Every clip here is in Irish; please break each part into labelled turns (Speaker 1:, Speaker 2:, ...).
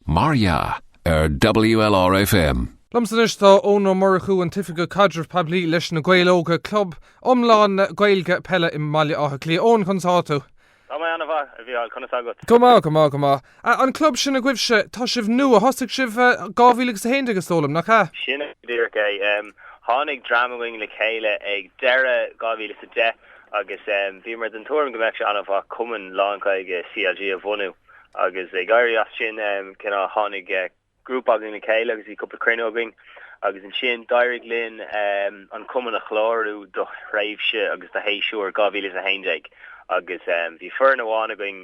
Speaker 1: Mar dhea, ar WLRFM. Liomsa anois
Speaker 2: tá Eoin Ó Murchú, an tOifigeach Caidreamh Poiblí leis Na Gaeil Óga, club iomlán Gaeilge peile i mBaile Átha Cliath. Eoin, conas atá tú? Tá mé an-mhaith,
Speaker 3: a Mhícheáil, conas agat? Go maith, go maith, go maith.
Speaker 2: An club sin agaibhse, tá sibh nua, thosaigh sibh 2011 is dóigh liom, nach ea? Sin é go díreach é.
Speaker 3: Tháinig dream againn le chéile ag deireadh 2010 agus bhíomar den tuairim go mbeadh sé an-mhaith cumann lán-Ghaeilge CLG a bhunú agus ag éirí as sin cineál tháinig grúpa againn le chéile agus bhí cúpla cruinniú againn agus ansin d'éirigh linn an cumann a chlárú do thréimhse agus do shéasúr 2011 agus bhí foireann amháin againn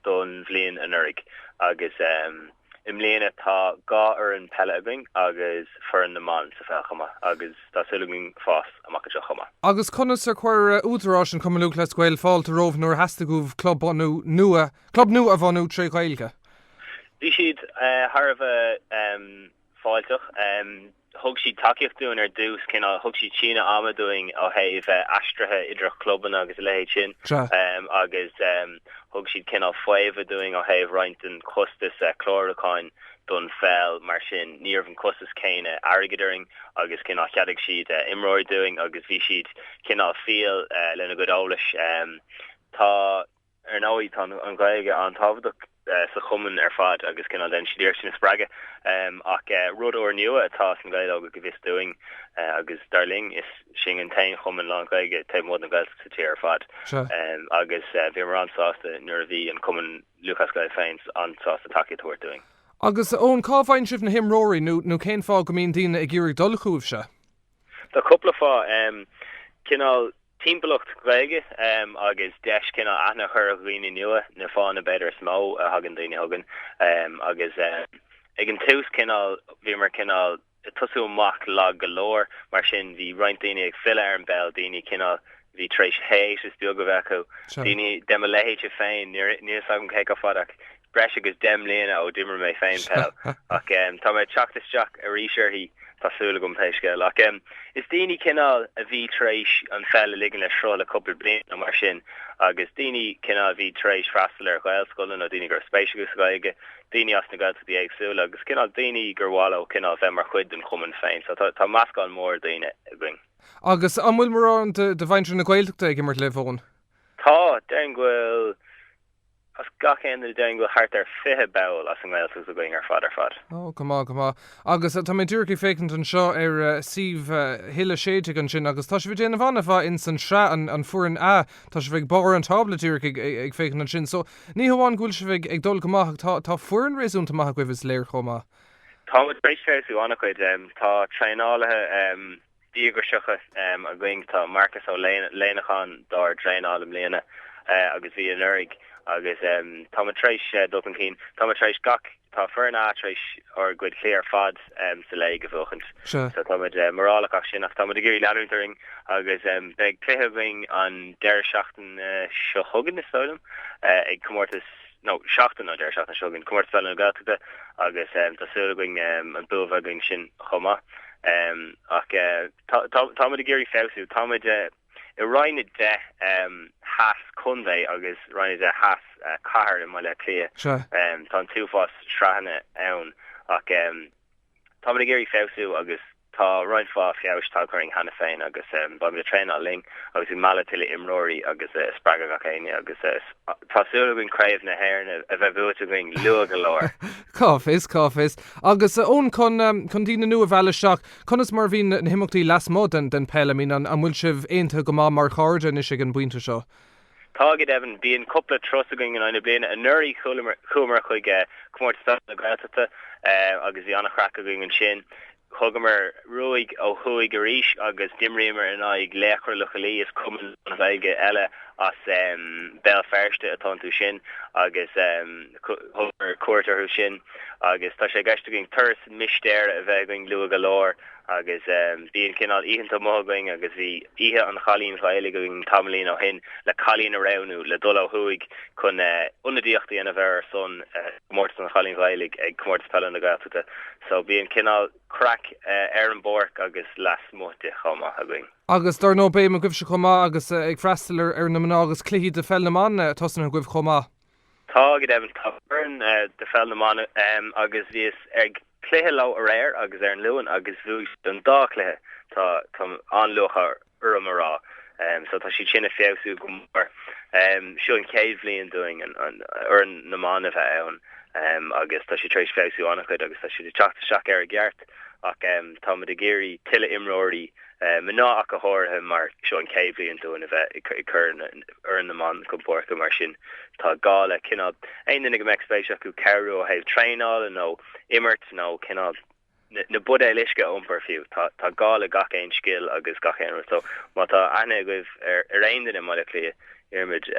Speaker 3: don bhliain anuraidh agus. I mbliana tá dhá fhoireann peile againn agus foireann na mban sa pheil chomh maith agus tá súil againn fás amach anseo chomh maith. Agus conas ar chuir
Speaker 2: údaráis an Chumainn Lúthchleas Gael fáilte romhaibh nuair a theastaigh uaibh club nua club nua a bhunú trí Ghaeilge? Bhí siad
Speaker 3: thar a bheith fáilteach. Thug siad tacaíocht dúinn ar dtús, cineál, thug siad síneadh ama dúinn ó thaobh aistrithe idir chlubanna agus a leithéid sin agus thug siad cineál faomhadh dúinn ó thaobh roinnt den chostas clárúcháin don pheil mar sin ní raibh an costas céanna airgid orainn agus cineál cheadaigh siad imreoirí dúinn agus bhí siad cineál fial lena gcuid eolais. Tá. Ar ndóigh tá an Ghaeilge an-tábhachtach sa chumann ar fad agus cineál déanann siad iarracht sin a spreagadh ach rud úrnua atá sna Gaeil Óga go bhfios dúinn agus dar linn is sinn an t-aon chumann lán-Ghaeilge taobh amuigh den Ghaeltacht sa tír ar fad agus bhíomar an-sásta nuair a bhí an Cumann Lúthchleas Gael féin an-sásta tacaíocht a thabhairt dúinn. Agus Eoin, cá
Speaker 2: bhfaigheann sibh na himreoirí nó cén fáth go mbíonn daoine ag iarraidh dul chugaibhse? Tá cúpla
Speaker 3: fáth. Cineál timpeallacht Ghaeilge agus deis cineál aithne a chur ar dhaoine nua na fáthanna b'fhéidir is mó a thagann daoine chugainn. Agus ag an tús cineál bhíomar cineál ag tosú amach lag go leor, mar sin bhí roinnt daoine ag filleadh ar an bpeil, daoine cineál Bhí tar éis hiatus beag a bheith acu, daoine de mo leithéidse féin, níl a fhios agam cé chomh fada ach breis agus deich mbliana ó d'imir mé féin peil, ach tá mé ag teacht isteach arís uirthi, tá súil agam, pé scéal. Ach is daoine cineál a bhí tar éis an pheil a ligean le sruth le cúpla bliain nó mar sin agus daoine cineál a bhí tar éis freastal ar Ghaelscoileanna nó daoine go raibh spéis acu sa Ghaeilge, daoine as na Gaeltachtaí éagsúla agus cineál daoine gur mhaith leo cineál bheith mar chuid den chumann féin, so tá meascán mór daoine againn. Agus an
Speaker 2: bhfuil mórán de mhuintir na Gaeltachta ag imirt libh, Eoin? Tá,
Speaker 3: déarfainn go bhfuil, as gach aon duine déarfainn go bhfuil thart ar fiche ball as an nGaeltacht againn ar fad ar fad. Ó, go maith, go maith.
Speaker 2: Agus tá mé díreach ag féachaint anseo ar suíomh Hill a sé déag ansin agus tá sibh ag déanamh an-mhaith insan sraith an Foireann A. Tá sibh ag barr an tábla díreach ag féachaint ansin so ní hamháin go bhfuil sibh ag dul go maith ach tá foireann réasúnta maith agaibh is léir chomh maith. Tá muid tar
Speaker 3: éis feabhsú an-chuid. Tá traenálaithe díograiseacha againn, tá Marcus Ó Léanacháin dár dtraenáil i mbliana agus bhí anuraidh agus tá muid tar éis dul chun cinn. Tá muid tar éis gach, tá Foireann A tar éis ár gcuid cluichí ar fad sa léig a bhuachaint so tá muid mórálach as sin ach tá muid ag iarraidh leanúint orainn agus beidh cluiche againn an deireadh seachtaine seo chugainn is dóigh liom ag comórtas nó seachtain, nó deireadh seachtaine seo againn, Comórtas Peile na Gaeltachta agus tá súil againn an bua a bheith againn ansin chomh maith. Ach tá tá muid ag iarraidh feabhsú, tá muid i Roinn a deich theas contae agus Roinn a deich theas cathair i mBaile Átha Cliath. Sea. Tá an t-uafás sraitheanna ann ach tá muid ag iarraidh feabhsú agus Tá roinnt mhaith feabhais tagtha orainn cheana féin agus beidh muid ag traenáil linn agus ag mealladh tuilleadh imreoirí agus ag spreagadh gach éinne agus tá súil againn Craobh na hÉireann a bheith buaite againn luath go leor! Cá bhfios,
Speaker 2: cá bhfios. Agus Eoin, chun chun daoine nua a mhealladh isteach, conas mar a bhíonn na himeachtaí lasmuigh den pheil, I mean an bhfuil sibh aontaithe go maith mar chairde anois ag an bpointe seo? Tá go
Speaker 3: deimhin, bíonn cúpla turas againn in aghaidh na bliana. Anuraidh chuamar chuig Comórtas Peile na Gaeltachta agus bhí an-chraic againn ansin. Thugamar ruaig ó thuaidh arís agus d'imríomar in aghaidh Laochra Loch Lao, is cumann lánGhaeilge eile as Béal Feirste atá iontu sin, agus thugamar cuairt orthu sin. Agus tá sé i gceist againn turas mistéire a bheith againn luath go leor. Agus bíonn cineál oícheanta amuigh againn agus bhí Oíche an Chailín Ghaelaigh againn tamaillín ó shin le cailín a roghnú le dul ó thuaidh chun ionadaíocht a dhéanamh ar ar son Chomórtas an Chailín Ghaelaigh ag Comórtas Peile na Gaeltachta. So bíonn cineál craic ar an bpáirc agus lasmuigh di chomh maith againn. Agus dar ndóigh béim
Speaker 2: agaibhse chomh maith agus ag freastal ar na mná agus cluichí de Pheil na mBan tosnaithe agaibh chomh maith.
Speaker 3: Tá, go deimhin, tá foireann de pheil na mban ann agus bhíos ag cluiche leo aréir agus ar an Luan agus bhuaigh siad an dá chluiche, tá an-lúcháir orm a rá, so tá siad sin ag feabhsú go mór. Seo an chéad bhliain dúinn foireann na mban a bheith ann agus tá siad tar éis feabhsú an-chuid agus tá siad ag teacht isteach ar a gceart ach táimid ag iarraidh tuilleadh imreoirí Mná ach go háirithe, mar seo an chéad bhliain dúinn a bheith ag cur foireann na mban chun páirce, mar sin tá gá le cineál aon duine go mbeadh spéis acu cabhrú ó thaobh traenála nó imirt nó cineál na buidéil uisce a iompar fiú, tá gá le gach aon scil agus gach aon... So má tá aithne agaibh ar aon duine i mBaile Átha Cliath, iarraimid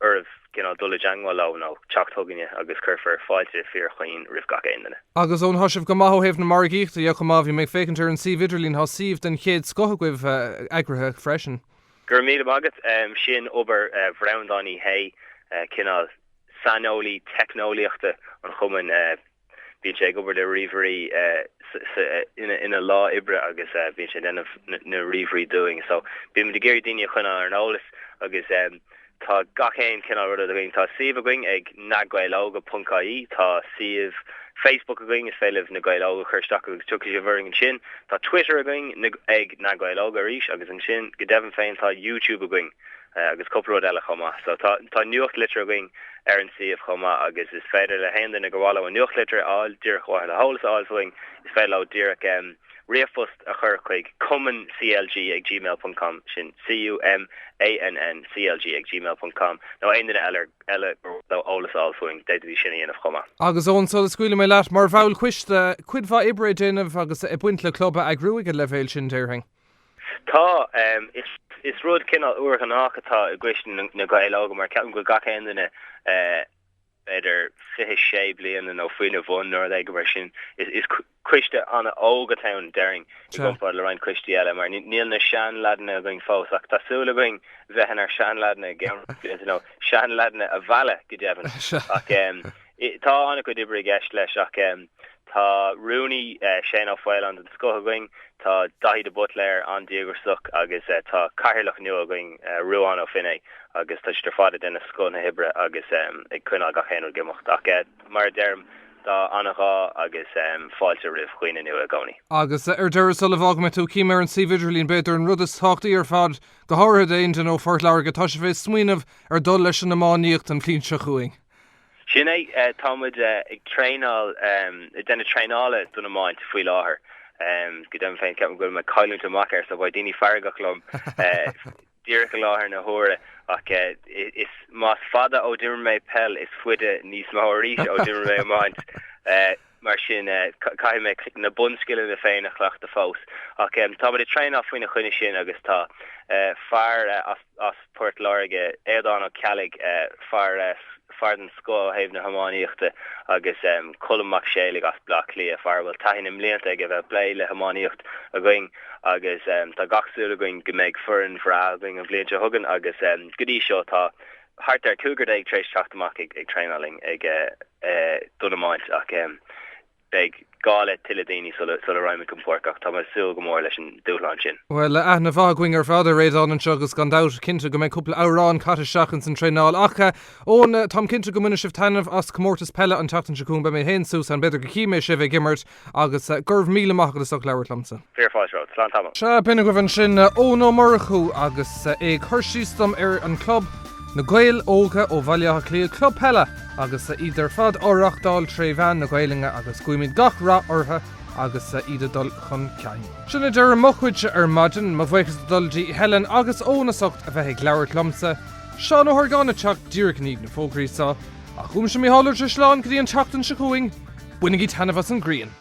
Speaker 3: oraibh. cineál dul i dteangmháil leo nó teacht chugainne agus cuirfear fáilte fíorchaoin roimh gach aon duine. Agus ó tá sibh go
Speaker 2: maith ó thaobh na margaíochta dhe chomh maith, bhí mé ag féachaint ar an suíomh idirlín, tá suíomh den chéad scoth agaibh eagraithe freisin. Go raibh míle maith
Speaker 3: agat, sin obair Bhreandáin Uí hÉ, cineál saineolaí teicneolaíochta an chumainn Bíonn sé ag obair le ríomhairí ina lá oibre agus bíonn sé ag déanamh na ríomhairí dúinn so bíonn muid ag iarraidh daoine a choinneáil ar an eolas agus tá gach aon chineál ruda againn. Tá suíomh againn ag nagaeiloga.ie, tá suíomh Facebook againn, is féidir libh Na Gaeil Óga a chur isteach agus tiocfaidh sibh orainn ansin. Tá Twitter againn ag Na Gaeil Óga arís agus ansin go deimhin féin tá YouTube againn. Eh agus cúpla rud eile chomh maith. So tá, tá nuachtlitir againn ar an suíomh chomh maith agus is féidir le haon duine gur mhaith leo an nuachtlitir a fháil díreach ar mhaithe le heolas a fháil fúinn, is féidir leo díreach em ríomhphost a chur chuig cumann CLG ag gmail ponc com, sin C-U-M-A-N-N C-L-G ag gmail ponc com, nó aon duine eile, eile gur mhaith leo eolas a fháil fúinn, d'fhéadfaidís sin a dhéanamh chomh maith. Agus ó sula scaoilfidh
Speaker 2: mé leat mar bhall coiste, cuid mhaith oibre le déanamh agus ag baint le club a eagrú ag an leibhéal sin déarfainn.
Speaker 3: Tá. Is rud cineál úrghnách atá i gCoiste na Gaeil Óga mar ceapaim go bhfuil gach aon duine b'fhéidir fiche sé bliana nó faoina bhun nó rud éigin mar sin. Is coiste an-óg atá ann déarfainn i gcomparáid le roinnt coistí eile mar níl na seanleaideanna againn fós ach tá súil againn a bheith inár seanleaideanna i gceann blianta nó seanleaideanna a mhealladh go deimhin ach. Tá an-chuid oibre i gceist leis ach tá rúnaí, Shane Ó Faoláin, den scoth againn, tá Daithí de Buitléar an-díograsach agus tá cathaoirleach nua againn, Ruadhán Ó Finné, agus tá siad ar fad ag déanamh scoth na hoibre agus ag coinneáil gach aon rud ag imeacht. Ach mar a deirim, tá an-ghá agus fáilte roimh dhaoine nua i gcónaí. Agus ar
Speaker 2: deireadh, sula bhfágfaidh mé tú, cím ar an suíomh idirlín, b'fhéidir, an rud is tábhachtaí ar fad, go háirithe d'aon duine ó Phort Láirge, tá sibh ag smaoineamh ar dhul leis an iománaíocht an bhliain seo chugainn. Sin é,
Speaker 3: tá muid ag traenáil, ag déanamh traenála don iomáint faoi láthair. Go deimhin féin, ceapaim go bhfuil mé ag cailliúint amach air, so beidh daoine feargach liom díreach i láthair na huaire, ach is, más fada ó d'imir mé peil, is faide níos mó arís ó d'imir mé iomáint. mar sin caithfidh mé na bunscileanna féin a chleachtadh fós. Ach tá muid ag traenáil faoina choinne sin agus tá fear as Port Láirge, Aodán Ó Ceallaigh, fear den scoth ó thaobh na hiománaíochta, agus Colm Mac Séalaigh as Bleá Cliath, fear a bhfuil taithí na mblianta aige bheith ag plé le hiománaíocht againn, agus tá gach súil againn go mbeidh foireann bhreá againn an bhliain seo chugainn agus go dtí seo tá thart ar chúigear déag tar éis teacht amach ag traenáil linn ag an iomáint ach beidh gá le tuilleadh daoine sula raghaidh muid chun páirce ach tá mé ag súil go mór leis an dúshlán sin. Bhuel, aithne mhaith
Speaker 2: againn ar fad ar Aodán anseo agus gan dabht, cinnte go mbeidh cúpla amhrán caite isteach ins an traenáil ach, Eoin, táim cinnte go mbainfidh sibh taitneamh as Comórtas Peile an tseachtain seo chugainn. Beidh mé féin, ansan, b'fhéidir go chífidh mé sibh ag imirt! Agus go raibh míle maith agat as ucht labhairt liomsa. Fearadh na fáilte romhat. Slán
Speaker 3: tamall. Sea, b'in agaibh
Speaker 2: ansin Eoin Ó Murchú agus é ag cur síos dom ar an chlub, Na Gaeil Óga ó Bhaile Átha Cliath, club peile agus iad ar fad á reáchtáil tré mheán na Gaelainne agus guímid gach rath orthu agus iad ag dul chun cinn. Sin é deireadh mo chuidse ar maidin, mo bhuíochas ag dul dtí Helen agus Eoin as ucht a bheith ag labhairt liomsa, Seán Ó hArgáin ag teacht díreach i ndiaidh na bhfógraí seo, ach uaimse Mícheál Ó Drisleáin go dtí an tseachtain seo chugainn, bainigí taitneamh as an ghrian!